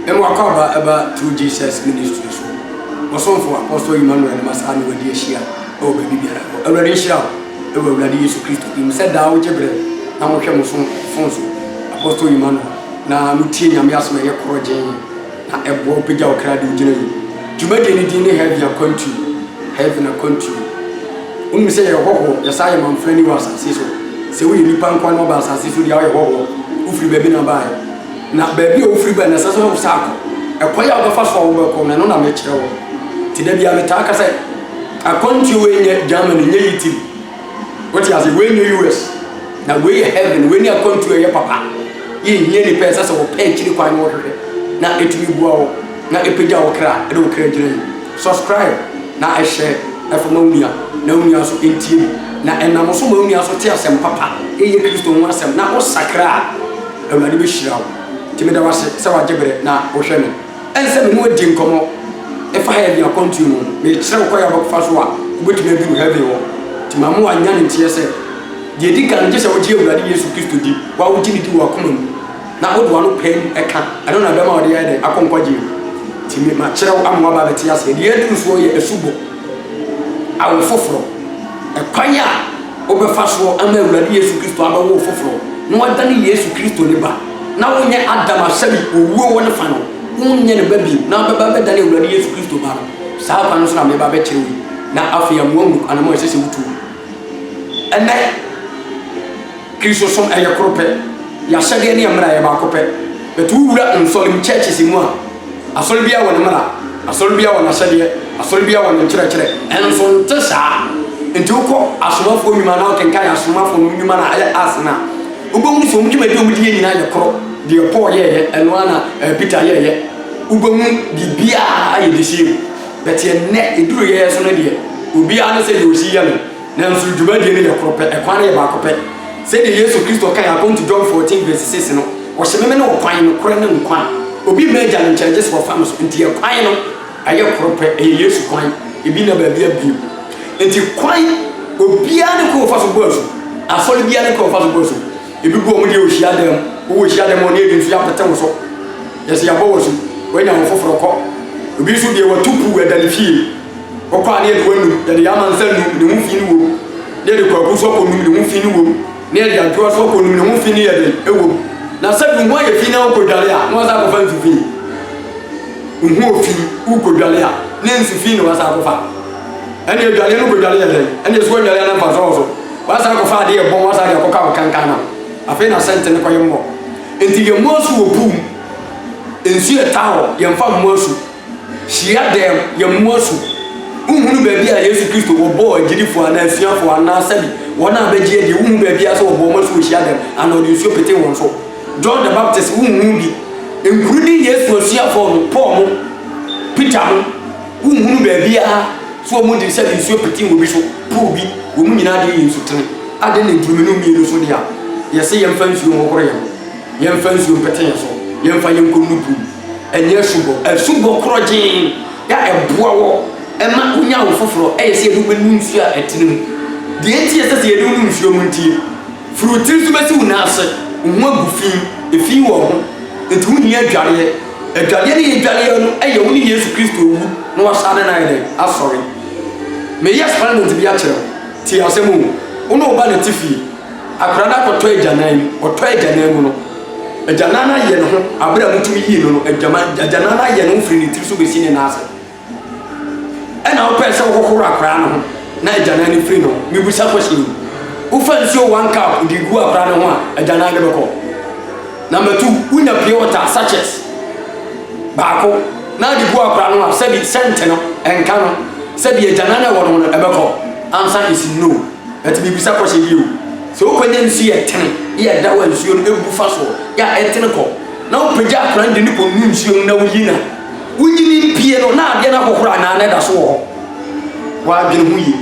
Emu akwaaba ba True Jesus Ministry so ɔsomfo Apostle Emmanuel Massah ne wadi ahyia wɔ baabi biara hɔ. Awurade nhyira wo wɔ Awurade Yesu Kristo din mu sɛ daa wogye bere na wohwɛ mo somfo so Apostle Emmanuel na mutie Nyame asɛm a ɛyɛ korɔgyenn na ɛboa wo pagya wo kra de wo gyina yi. Dwumadie no din ne Heaven Akwantuo, Heaven Akwantuo. Wonim sɛ yɛyɛ hɔhoɔ, yɛsan yɛ mamfrani wɔ asase so. Sɛ woyɛ nipa nkoa na woba asase so deɛ a woyɛ hɔhoɔ, wofiri baabi na baeɛ. Na baabi a wofiri bae no, ɛsɛ sɛ wosan kɔ. Ɛkwan a wobɛfa so a wobɛkɔ no, ɛno na mekyerɛ wo. Nti da biara metaa ka sɛ, akwantuo wei nyɛ Germany, nyɛ Italy. Wote ase? Wei nyɛ US. Na wei yɛ heaven. Wei ne akwantuo a ɛyɛ papa. Yɛnhia nipa, ɛsɛ sɛ wɔpɛ akyiri kwan na wɔhwehwɛ. Na ɛtumi boa wo, na ɛpagya wo kra, ɛde wo kra gyina yie. Subscribe na ɛhyɛ ɛfa ma wo nua, na wo nua nso ntie bi. Na ɛnam so ma wo nua nso te asɛm papa, ɛyɛ Kristo ho asɛm, na wosakra a. Awurade bɛhyira wo. Nti meda wo ase sɛ wagye berɛ na wohwɛ me. Ɛne sɛ me ne wo adi nkɔmmɔ ɛfa heaven akwantuo no ho. Mekyerɛ wo kwan a wobɛfa so a wobɛtumi aduru heaven hɔ. Nti ma me wanya ne nteɛ sɛ, deɛ ɛdi kan no, gye sɛ wogye Awurade Yesu Kristo di, wo a wogye no di wɔ w'akoma mu, na wode w'ano paim ka, ɛno na ɛbɛma wode ayɛ dɛn? Akɔ nkwagyeɛ mu. Nti me makyerɛ wo ama woaba abɛte aseɛ. Deɛ yɛaduru soɔ yɛ asubɔ. Awo foforɔ. Ɛkwan a. wobɛfa so ama Awurade Yesu Kristo abɛwo wo foforɔ na woadane Yesu Kristo ne ba, na wonyɛ Adam a sɛdeɛ owuo wɔ ne fa no, wonyɛ ne ba bio, na wobɛba abɛdane Awurade Yesu Kristo ba no. Saa kwan no so na mereba abɛkyerɛ wo yi, na afei ama woahunu kwan no mu a ɛsɛ sɛ wotu no. Ɛnnɛ, Kristosom ɛyɛ koro pɛ, yɛahyɛdeɛ ne yɛn mmara yɛ baako pɛ, but wowura nsɔrem, churches, mu a, Asɔre biara wɔ ne mmara, asɔre biara wɔ n'ahyɛdeɛ, asɔre biara wɔ ne nkyerɛkyerɛ. Nso nte saa. Nti wokɔ asomafoɔ nnwuma na wokenkan asomafoɔ no nnwuma no a ɛyɛ Acts no a, wobɛhu sɛ wɔn dwumadi a wɔdi yɛ nyinaa yɛ korɔ. Deɛ Paul yɛɛyɛ, ɛno ara na eh, Peter yɛɛyɛ. Wobɛhu biribiara yɛ the same. But ɛnnɛ, ɛduru yɛn so no deɛ, obiara ne sɛdeɛ ɔsi yɛ no. Nanso dwumadie no yɛ koro pɛ, ɛkwan no yɛ baako pɛ. Sɛdeɛ Yesu Kristo kae a, John 14 vs 6 no, Ɔse, Meme ne ɔkwan, nokorɛ ne nkwa. Obi mma Agya no nkyɛn gye sɛ ɔfa me so. Enti ɛkwan no, ɛyɛ koro pɛ, ɛyɛ Yesu kwan, ebi nna baabia bio. Enti kwan, obiara ne kwan ɔfa so bɔ asu. Asɔre biara ne kwan ɔfa so bɔ asu. Ebi gu wɔn deɛ wɔ hyiadan mu, wo wɔ hyiadan mu a, ɔne ebi nso yɛapete wo so. Yɛse yɛabɔ wo asu, woanya wo foforɔ kɔ. Obi nso deɛ wɔatu puu ɛda ne fie. Ɔkɔ a ne yɛde w'anum, yɛde yɛama nsa num ne ho fi ne wom, ne yɛde kwaku so akɔ num ne ho fi ne wom, ne yɛde adwoa so akɔ num ne ho fi ne yɛ den ɛwɔ mu. Na sɛ num ho ayɛ fi na wokɔ dwale a, na wasa akɔfa nsu fi. Num ho ofi, wokɔ dwale a, ne nsu fi na wasa akɔfa. Ɛne adwale no kɔ dwale yɛ den, ɛne ɛso adwale a na mfa sɔɔ so. Wasa akɔfa ade yɛ bɔn, wasa ade akɔka wo kankan no. Afei na sɛnte ne kɔ yɛ mmɔ. Nti yɛ mmɔ asu wɔ pool mu. Nsu yɛ taa hɔ, yɛmfa mmɔ asu. hyiadan yɛmmoa so. Wonhunu baabi a Yesu Kristo wɔbɔɔ agyidifo anaa asuafo anaa sɛbi wɔn a bɛgye adie wonhu baabi a sɛ wɔbɔɔ wɔn asu wɔ hyiadan anaa wɔde nsuo petee wɔn so. John the Baptist wonhunu bi. Nkuru ne Yesu asuafo no, Paul mo, Peter mo, wonhunu baabi a sɛ wɔn de sɛbi nsuo petee obi so, poo bi, wɔn nyinaa deɛ yɛ nsutene. Ade ne nkurumi no mmienu so deɛ a, yɛse yɛmfa nsuo nhohoro yɛn ho, yɛmfa nsuo mpete yɛn so, yɛmfa yɛnkɔ nnupu mu. Ɛnyɛ asubɔ. Asubɔ korɔgyenn a ɛboa wɔ ma wonya wo foforɔ yɛ sɛ yɛde wo bɛnu nsuo a ɛtene mu. Deɛ enti a ɛsɛ sɛ yɛde wo nu nsuo no ntie, firi wo tiri so bɛsi wo nan ase, wo ho agu fi, efi wɔ wo ho, enti wohia adwareɛ. Adwareɛ no yɛdwareɛ no yɛ wo ne Yesu Kristo wu na wasane no ayɛ dɛn? Asɔre. Meyɛ assignment bi akyerɛ wo, tie asɛm o, wo ne wo ba na te fie. Akwadaa no akɔtɔ agyanan mu. Ɔtɔɔ agyanan mu no, agyanan no ayɛ ne ho, berɛ a motumi yii no no, agyanan no ayɛ ne ho firi ne tiri so bɛsi ne nan ase. Ɛna wopɛɛ sɛ wohohoro akwadaa no ho na agyanan no firi ne ho. Mebusa question yi. Wofa nsuo one cup de gu akwadaa no ho a, agyanan no bɛkɔ. Number two, wonya pure water sachet baako na de gu akwadaa no ho a, sɛbi sɛnte no, ɛnka no, sɛbi agyanan no ɛwɔ no ho no ɛbɛkɔ. Answer is no. Enti mibisa kɔ sɛ, Yiw, sɛ wokɔnya nsu yɛ tene yɛ ɛda hɔ a nsuo no gu fa soɔ yɛ a ɛtene kɔ, na wopagya akora no de no kɔ nu nsuo mu na woyi no a, wonyini mpie no na adeɛ no ahohoro anaa na ɛda so wɔ hɔ? Woadwene ho yie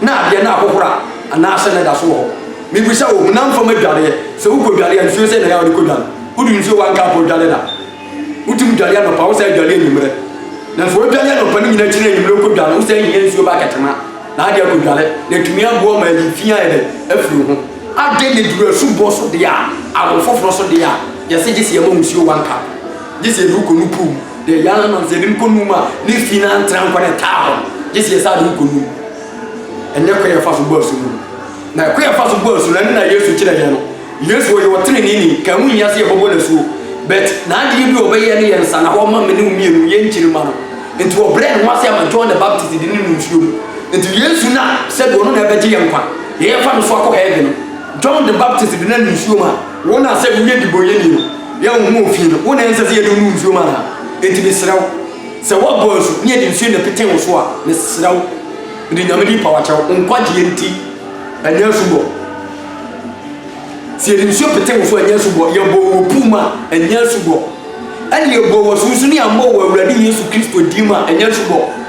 na adeɛ no ahohoro a anaasɛ na ɛda so wɔ hɔ? Mibisa wo, honam fam adwareɛ, sɛ wokɔdware a nsuo sɛn na ɛyɛ a wode kɔdware? Wode nsuo wɔ anka a mpo dware da. Wotumi dware anɔpa, wosan dware anwummerɛ. Na sɛ wodware anɔpa no nyinaa kyerɛ anwummerɛ wokɔdware, wosan hia nsuo ba kɛtɛma na ade akɔdware na atumi aboa ma ayi fi ayɛ dɛ afiri wo ho. Adɛn na ɛduru asubɔ so deɛ a, awo foforɔ so deɛ a, yɛse gye sɛ yɛma nsuo one cup. Gye sɛ yɛde wo kɔnu pool mu. Deɛ yɛa no no, sɛ yɛde no kɔnu mu a, ne fi no antra nkɔ na ɛtaa hɔ. Gye sɛ yɛsan de wo kɔnu mu. Ɛnyɛ kwan a yɛfa so bɔ asu no. Na ɛkwan a yɛfa so bɔ asu no, ɛno na Yesu kyerɛeɛ no. Yesu ɔyɛ ɔteneneeni, nka ɛho nhia sɛ yɛbɔbɔ no asuo, but n'adeɛ bi a ɔbɛyɛ no yɛ nsa na hɔ ma me ne wo mmienu, yɛn nkyiri mma no. Nti ɔbrɛɛ ne ho ase ama John the Baptist de ne no nsuo mu. Nti Yesu na sɛdeɛ ɔno na ɛbɛgye yɛn nkwa, yɛn yɛfa no so akɔ heaven no, John the Baptist de no no nsuo mu a, wo na sɛ woyɛ dibɔnyɛni no, yɛ wo ho ofii no, wo na ɛnsɛ sɛ yɛde wo no nsuo mu anaa? Nti mesrɛ wo, sɛ woabɔ asu na yɛde nsuo na ɛpete wo so a, mesrɛ wo, mede Nyame din paw akyɛ wo, wo nkwagyeɛ nti, ɛnyɛ asubɔ. Sɛ yɛde nsuo pete wo so a, ɛnyɛ asubɔ. Yɛbɔ wɔ puu mu a, ɛnyɛ asubɔ. Ɛne yɛbɔ wɔ so nso ne yɛammɔ wɔ Awurade Yesu Kristo din mu a, ɛnyɛ asubɔ.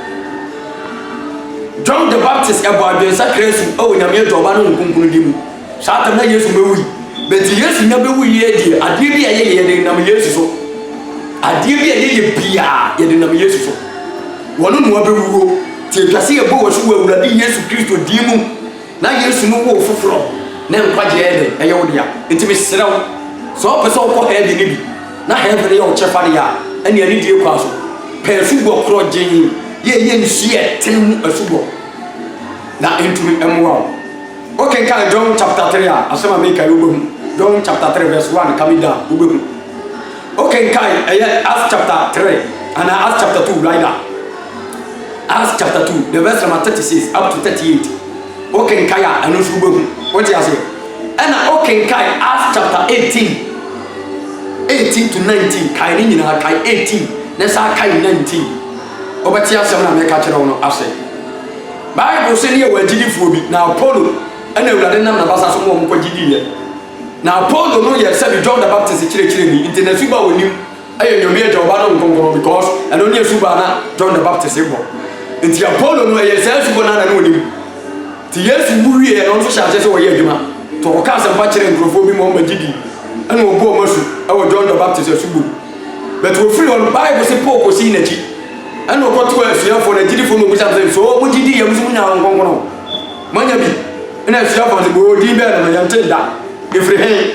John the Baptist ɛbɔ adwensakra asu wɔ Nyame Agya Ɔba ne Honhom Kronkron din mu. Saa tam na Yesu bɛwui. Bɛti Yesu nya bɛwui yɛ deɛ, adeɛ bi a yɛyɛ yɛde nam Yesu so. Adeɛ bi a yɛyɛ biaa yɛde nam Yesu so. Wɔno na wɔbɛwuo. Ti atwa sɛ yɛbɔ wɔ so wɔ Awurade Yesu Kristo din mu. Na Yesu no woo foforɔ. Na nkwagyeɛ yɛ dɛn? Ɛyɛ wo dea. Enti mesrɛ wo, sɛ wopɛ sɛ wokɔ hɛɛve no bi, na hɛɛve no yɛ wo kyɛfa deɛ a, ɛnneɛ anidie kwan so, pɛ asubɔ korɔgyenn, deɛ ɛyɛ nsuo a ɛtene mu asubɔ, na ɛntumi mmoa wo. Wokenkan John chapter three a, asɛm a mereka yi, wobɛhu. John chapter three verse one, ka me down, wobɛhu. Wokenkan ɛyɛ Acts chapter three anaa Acts chapter two write down. Acts chapter two the verse number thirty six up to thirty eight. Wokenkan a ɛno nso wobɛhu. Wote ase? Ɛna wokenkan Acts chapter eighteen eighteen to nineteen kae ne nyinaa kae eighteen na saa kae nineteen. Wobɛte asɛm na mɛka kyerɛ wo no ase. Bible sɛ ne yɛ wɔ agyidifoɔ bi na Apollo ɛna awurade nam n'abasa so ma wɔn kɔ gyidi yɛ. Na Apollo no yɛ sɛbi John the Baptist kyerɛkyerɛni nti na suba a ɔnim yɛ Nyame Agya, Ɔba no Nkonkron because ɛno ne suba a na John the Baptist bɔ nti Apollo no ɛyɛ saa suba no ara na ɔnim nti Yesu wu wieɛ no nso hyɛ aseɛ sɛ ɔyɛ adwuma nti ɔkɔka asɛmpa kyerɛ nkurɔfoɔ bi ma ɔma gye di ɛna ɔbu ɔma su ɛwɔ John the Baptist asubɔ mu but ɔfiri hɔ no Bible se Paul kɔsii n'akyi ɛna ɔkɔtoa asuafoɔ no agyidifoɔ no ɔbisa sɛ so ɔmo gye di yɛ mo nso mo nya Nkonkron Manya bi na asua bɔne boo din bɛn na manya ntee da ɛfiri he?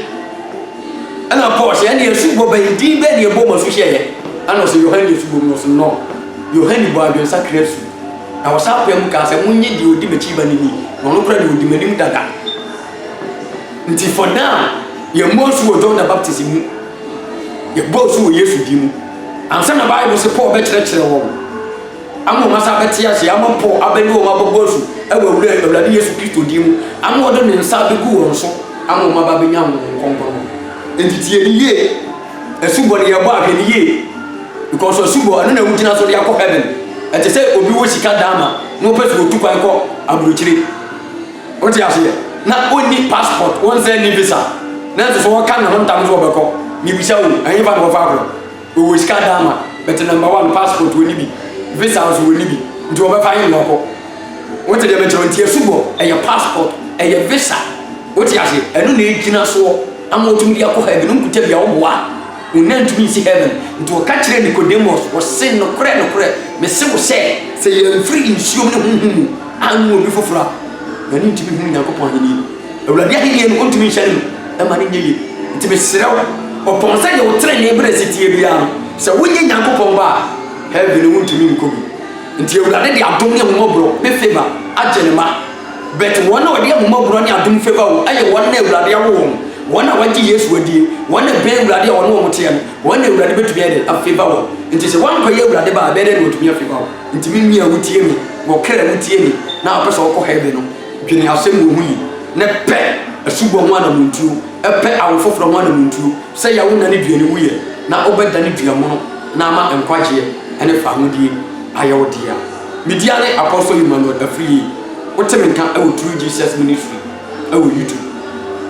Ɛna Paul sɛ ɛne asubɔ bɛn din bɛn na ɛbɔ mu asu hyɛ yɛ? Ɛna ɔsɛ Yohane asubɔ mu no so nnɔ. Yohane bɔ adwensakra asu na ɔsan paa mu kaa sɛ monye deɛ ɔdi m'akyi ba no ni na ɔno kora deɛ ɔdi m'anim dada. Nti for now yɛmmɔ asu wɔ John the Baptist mu yɛbɔ asu wɔ Yesu din mu. Ansa na Bible sɛ Paul bɛkyerɛkyerɛ wɔn. Ama wɔn asa abɛte ase, ama mpo abɛne wɔn abɛbɔ asu wɔ Awurade Yesu Kristo din mu, ama ɔde ne nsa abɛgu wɔn so, ama wɔn aba abɛnya Honhom Kronkron no. Enti tie no yie. Asubɔ no, yɛbɔ a, hwɛ no yie. Because asubɔ, ɛno na wogyina so de akɔ heaven. Ɛte sɛ obi wɔ sika dan ma, na ɔpɛ sɛ ɔtu kwan kɔ aburokyire. Wote aseɛ? Na ɔnni passport, ɔnsan nni visa. Nanso so ɔka ne ho ntam sɛ ɔbɛkɔ. Mebisa o, ɛhefa na wɔfa akɔ? Ɔwɔ sika daa ma but number one passport wɔni bi visa nso wɔni bi nti wɔbɛfa ayi no ɔkɔ wote deɛ mekyerɛ nti asubɔ ɛyɛ passport ɛyɛ visa wote ase ɛno na ɛgyina soɔ ama wɔtumi de akɔ heaven nkuta bia woboa wonya ntumi nsi heaven nti wɔka kyerɛ Nicodemus wɔse nokorɛ nokorɛ mese wo sɛ sɛ yɛmfiri nsuom ne honhom mu anwo obi foforɔ a yɛne ntumi hu Nyankopɔn ahennie Awurade ahennie no, ɔntumi nhyɛne no mma no nyɛ yie. Nti mesrɛ wo, ɔtɔn sɛ deɛ wo trenee berɛ si teɛ biara no, sɛ wonyɛ Nyankopɔn ba a, heaven no wontumi nkɔ bi. Nti Awurade de adom ne ahummɔborɔ ne favour agye ne mma. But wɔn a wɔde ahummɔborɔ ne adom favour wo yɛ wɔn na Awurade awo wɔn, wɔn a wɔagye Yesu adie, wɔn na ɛbɛn Awurade a wɔne wɔn teɛ no, wɔn na Awurade bɛtumi ayɛ dɛn? Afavour wɔn. Nti sɛ woankɔyɛ Awurade ba a, ɛbɛyɛ dɛn na watumi afavour wo? Nti me nua wotie me, wɔ kra wotie me, na wopɛ sɛ wokɔ heaven no, Dwene asɛm wɔ ho yi na pɛ asubɔ ho anamontuo, pɛ awo foforɔ ho anamontuo, sɛ yɛ wo nane dua ne wuiɛ na wo bɛ dane dua mono na ama nkwagyeɛ ne fahodie ayɛ wo dea. Me dia ne Apostle Emmanuel Afriyie, wo te me nka wɔ True Jesus Ministry wɔ YouTube.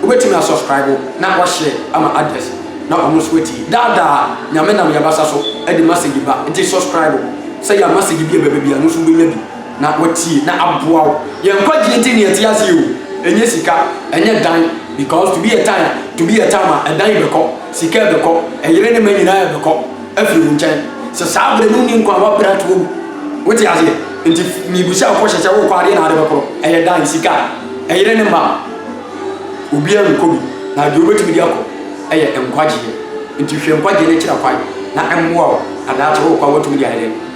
Wo bɛ tumi a subscribe na wa share ama others na ɔmo nso atie. Daa daa Nyame nam yɛ abasa so de message ba, nti subscribe sɛ yɛ a message bi a ɛbɛba biara no nso wo bɛ nya bi. Na watie na aboa wo. Yɛn nkwagye nti na yɛte ase yi o, ɛnyɛ sika, ɛnyɛ dan, because to be a time to be a time a ɛdan bɛkɔ, sika ɛbɛkɔ, ɛyere ne mma nyinaa ɛbɛkɔ afiri wo nkyɛn, sɛ saa berɛ no wonni nkwa a w'abrɛ ato awu, wote aseɛ? Nti mebusa wo kɔhyɛ sɛ wokɔ adeɛ na ade bɛkorɔ, ɛyɛ dan, sika, ɛyere ne mma a obiara nkɔ bi, na deɛ wobɛtumi de akɔ ɛyɛ nkwagyeɛ, nti hwɛ nkwagyeɛ no akyira kwan na ɛmmoa wo na daakye wokɔ a woatumi de ayɛ dɛn?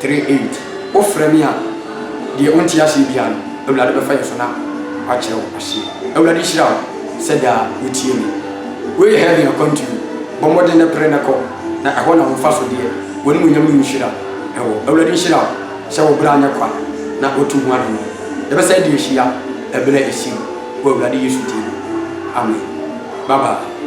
Three eight Wo frɛ me a deɛ wo nte aseɛ biara no Awurade bɛfa yɛ so na wakyerɛ wo aseɛ Awurade nhyira wo sɛ daa wo tie me Wei yɛ heaven akwantuo bɔ mmɔden na pere na kɔ na ɛhɔ na wo mfa so deɛ w'animuonyam ne wo nhyira wɔ Awurade nhyira wo sɛ wo bra nyɛ kwa na wo to ho anɔnɔ Yɛ bɛ san de ahyia ɛberɛ a ɛsi wɔ Awurade Yesu din mu Amen Bye bye.